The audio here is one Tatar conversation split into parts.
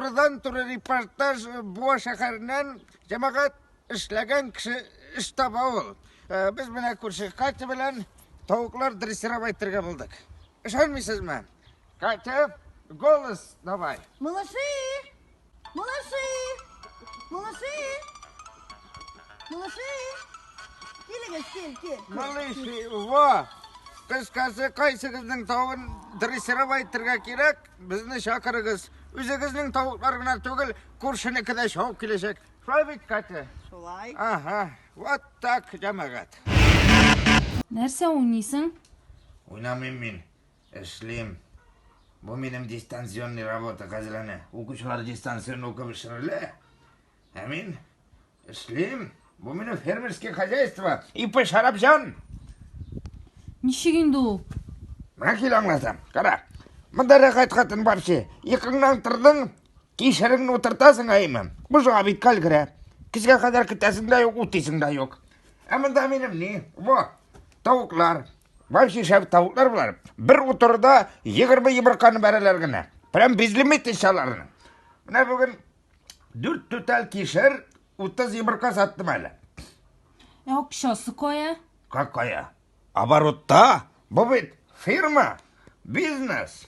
Казан туры репортаж э, Буа шәһәреннән җәмәгать эшләгән кеше эш таба ул. Э, без менә күрше Катя белән тавыклар дрессировать итәргә булдык. Ышанмыйсызмы? Катя, голос давай. Малыши! Малыши! Малыши! Малыши! Килегез, кел, кел. Малыши, во! Кыз касы кайсыгызның тавын дрессировать итәргә кирәк, безне чакырыгыз. Үзегезнең тавыклар гына түгел, күршенеке дә шауып киләчәк. Шулай бит, Катя? Шулай. Ага, вот так, җәмәгать. Нәрсә уйныйсың? Уйнамыйм мин. Эшлим. Бу минем дистанционный работа хәзер әнә. Укучылар дистанцион укып эшләрле. Ә мин эшлим. Бу минем фермерский хозяйство. Ипы Шарапҗан. Ничек инде ул? Менә кил аңласам. Кара. Монда рәхәт хатын бар чи. Икыңнан тордың, кишереңне утыртасың әйме. Бушыга бит кал керә. Кичкә кадәр көтәсең дә юк, утыйсың да юк. Ә монда минем ни? Во. Тавыклар, Бай шешәб тавыклар болар. Бер утырда 20 йомырканы бәрәләр генә. Прям без лимит ишаларны. Менә бүген 4 түтәл кишер 30 йомырка саттым әле. Ә акчасы кая? Какая? Оборотта? Бу бит фирма, бизнес.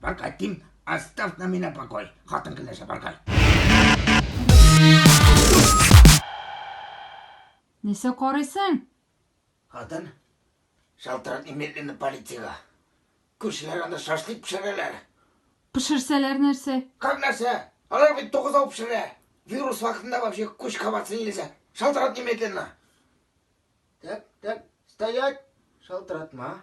Баркай, тим, оставь на меня покой. Хатын килешә, баркай. Нәрсә карыйсың? Хатын, шалтырат немедленно полициягә. Күршеләр анда шашлык пешерәләр. Пешерсәләр нәрсә? Как нәрсә? Алар бит тугыз ау пешерә. Вирус вакытында вообще күч кабатсын илесә. Шалтырат немедленно. Так, так, стоять. Шалтыратма.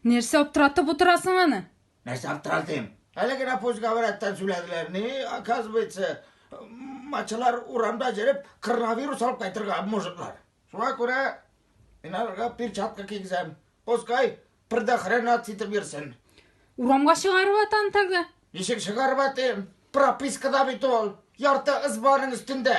Нәрсә аптыратып утырасың аны? Нәрсә аптыратыйм? Әле генә пусть-говоряттан сөйләделәр. Ни, оказывается, мачылар урамда җөреп, коронавирус алып кайтырга мужиклар. Шуңа күрә мин аларга перчатка кигезәм. Пускай предохранять итеп йөрсен. Урамга чыгарып атам тәгә. Ничек чыгарып атыйм? Пропискада бит ул. Ярты ызбаның өстендә.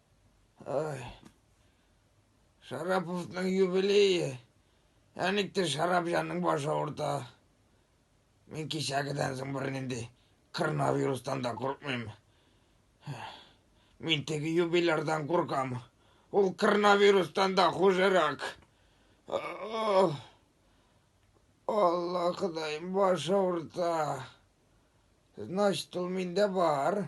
Ай. Шараповның юбилее. Әниктер шарап җанның башы авырта. Мин кичәгедән соң бер нинди коронавирустан да куркмыйм. Мин теге юбилярдан куркам. Ул коронавирустан да хужырак. Алла Ходаем башы авырта. Значит, ул миндә бар.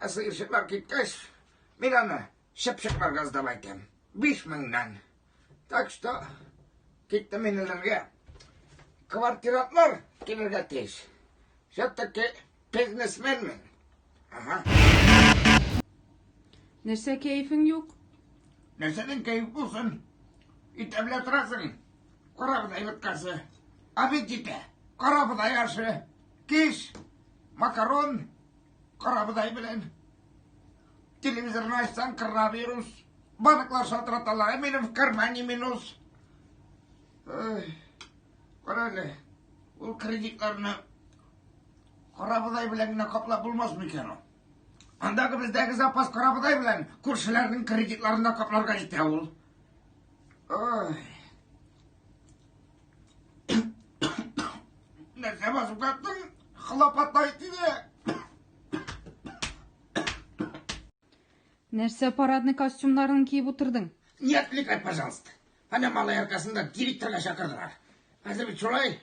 Ә сыерчыклар киткәч, мин аны чыпчыкларга сдап әйтәм. Биш меңнән. Так что, киттем мин эләргә. Квартирантлар килергә тиеш. Все-таки бизнесмен мин. Ага. Нәрсә кәефең юк? Нәрсәдән кәеф булсын? Итәблә торасың. Карабыз әйбәткәсе. Аппетиты. Карабыз аяшы. Киш. Макарон. Карабодай белән телевизорны ачсаң коронавирус, банклар шалтыраталар, ә минем в кармане минус. Карале, ул кредитларны карабодай белән генә каплап булмас микән ул? Андагы бездәге запас карабодай белән күршеләрнең кредитларында капларга җитә ул. Ой. Нәрсә басып каттың? Хлопотай тиде. Нәрсә парадный костюмнарын киеп утырдың? Не отвлекай, пожалуйста. Ана малай аркасында директорга чакырдылар. Хәзер бит шулай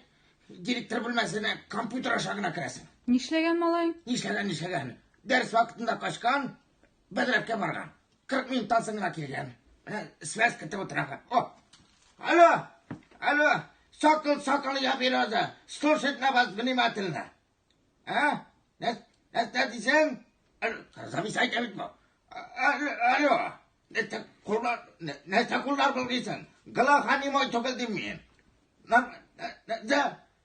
директор бүлмәсенә компьютер аша гына керәсең. Нишләгән малай? Нишләгән, нишләгән? Дәрес вакытында качкан, Бәдрәпкә барган. 40 минуттан соң гына килгән. Менә связь көтеп утырам. О! Алло! Алло! Сокол, сокол, я береза. Слушать на вас внимательно. А? Нас, нас, нас, дисең? Замис айта бит бу. Алло! Нәрсә куллар, нәрсә куллар булгыйсың? Глаханимой түгел дим мин. Нәрсә?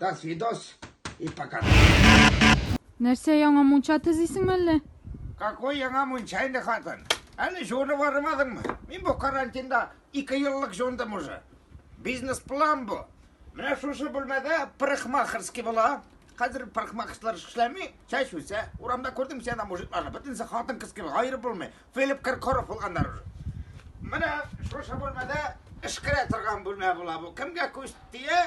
До свидос и пока. Нәрсә яңа мунча төзисең мәллә? Какой яңа мунча инде хатын? Әле җуынып бармадыңмы? Мин бу карантинда ике еллык җуындым уже. Бизнес план бу. Менә шушы бүлмәдә парикмахерский була. Хәзер парикмахерслар эшләми, чәч үсә. Урамда күрдем сиана мужикларны. Бөтенесе хатын кыз кебек аерып булмый. Филипп Киркоров булганнар уже. Менә шушы бүлмәдә эшкәрә торган бүлмә була бу. Кемгә күз тия,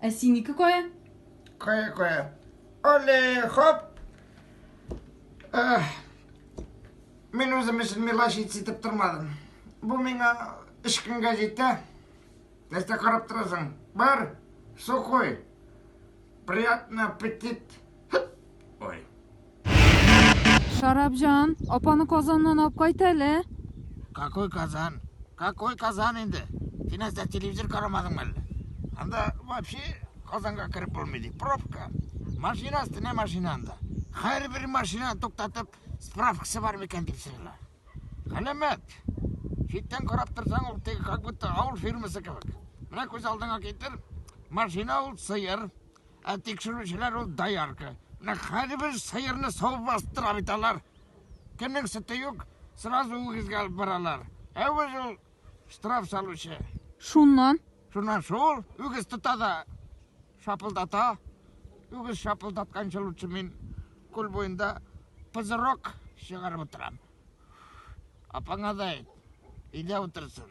Ә синеке кая? Кая, кая. Оле, хоп! Эх, мин үзем өчен милаш итеп тормадым. Бу миңа өч көнгә җитә. Нәрсә карап торасың? Бар, сухой. Приятный аппетит. Ой. Шарабҗан, апаны казаннан алып кайт әле. Какой казан? Какой казан инде? Син әзә телевизор карамадыңмы әллә? Анда вообще казанга кереп булмый ди. Пробка. Машина өстенә машина анда. Һәрбер машина туктатып, справкасы бар микән дип сорыйлар. Галәмәт. Читтән карап торсаң, ул теге как будто авыл фирмасы кебек. Менә күз алдыңа китер, машина ул сыер. Ә тикшерүчеләр ул доярка. Менә һәрбер сыерны савып бастыра бит алар. Кемнең сөте юк, сразу үгезгә алып баралар. Ә үгез ул штраф салучы. Шуннан? Шуннан шул, үгез тота да шапылдата. Үгез шапылдатканчы лучше мин күл буенда пызырок чыгарып утырам. Апаңа да әйт, өйдә утырсын.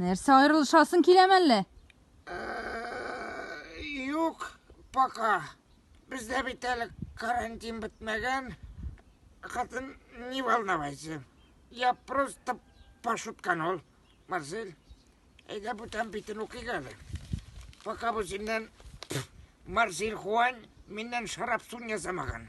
Нәрсә аерылышасың киләм әллә? Юк, пока. Бездә бит әле карантин бетмәгән. Хатын, не волновайся. Я просто пошуткан ул, Марсель. Әйдә бүтән битен укыйк әле. Пока бу синнән Марсель Хуан миннән шарап сун ясамаган.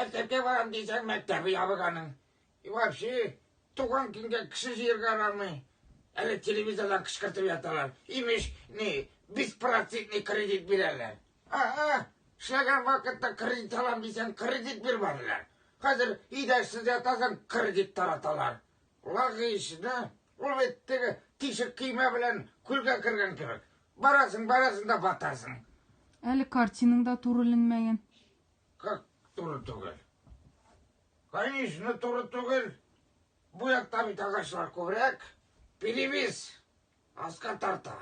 Мәктәпкә барам дисәң, мәктәбе ябык аның. И вообще, туган көнгә кеше җыярга ярамый. Әле телевизордан кычкыртып яталар. Имеш, ни, беспроцентный кредит бирәләр. А-а, эшләгән вакытта кредит алам дисәң, кредит бирмәделәр. Хәзер идәшсез ятасың, кредит тараталар. Лагыйш, да? Ул бит теге тишек көймә белән күлгә кергән кебек. Барасың, барасың да батасың. Әле картинаң да турыленмәгән. Как туры түгел? Конечно, туры түгел. Бу якта бит агачлар күбрәк. Перевес. Аска тарта.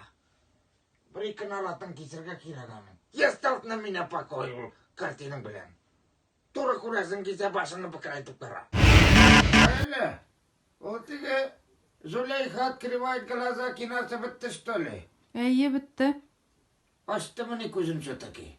Бер ике наратын кисергә кирәк аны. Я стал на меня покой ул картинаң белән. Туры күрәсең кисә башыңны бөкрәйтеп кара. Әле. Ул теге Зулейха открывает глаза кинасы бетте, что ли? Әйе, бетте. Ачтымыни күзен все-таки?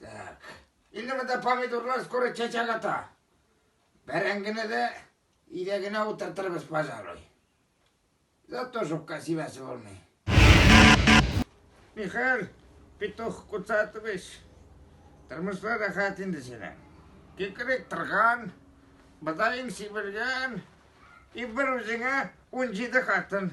Так. Инде монда помидорлар скоро чәчәк ата. Бәрәңгене дә идәгенә утыртырбыз, пожалуй. Зато жопка сибәсе булмый. Михаил Петух Куцатович, тормышта рәхәт инде синең. Кикрек торган, быдаең сибелгән, и бер үзеңә 17 хатын.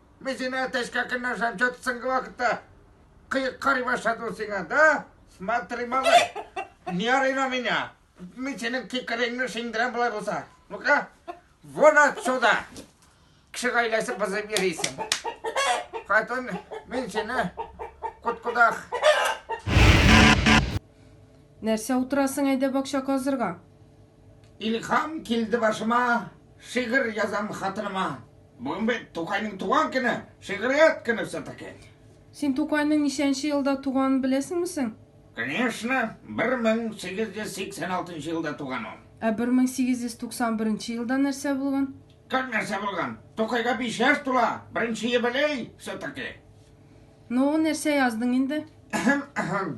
Мин сине әтәчкә көнләшәм, чат соңгы вакытта кыек карый башлады ул сиңа, да? Смотри, малай, не ори на меня. Мин синең кикереңне шиңдерәм болай булса. Ну-ка, вон отсюда. Кеше гаиләсе бозып йөрисең. Хатын, мин сине куткудах. Нәрсә утырасың, әйдә бакча казырга. Илхам килде башыма, шигырь язам хатыныма. Бүген бит Тукайның туган көне, шигърият көне все-таки. Син Тукайның ничәнче елда туганын беләсеңме соң? Конечно, 1886 елда туган ул. Ә 1891 елда нәрсә булган? Как нәрсә булган? Тукайга биш яшь тула, беренче юбилей все-таки. Ну, нәрсә яздың инде? Әһәм, әһәм.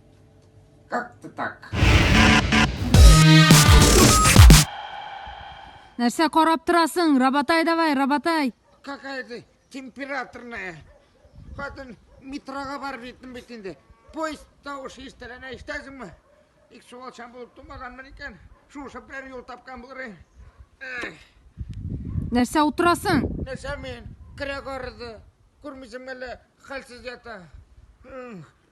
Как-то так. Нәрсә карап торасың? Рабатай давай, рабатай. Какая ты температурная. Хатын метрога барып җиттем бит инде. Поезд тавышы ишетеләне ишетәсеңме? Ик суалчан булып тумаганмын икән. Шушы бер юл тапкан булыр идем. Эх, Нәрсә утырасың? Нәрсә мин? Керәк арыды. Күрмисең әле, хәлсез ята. М,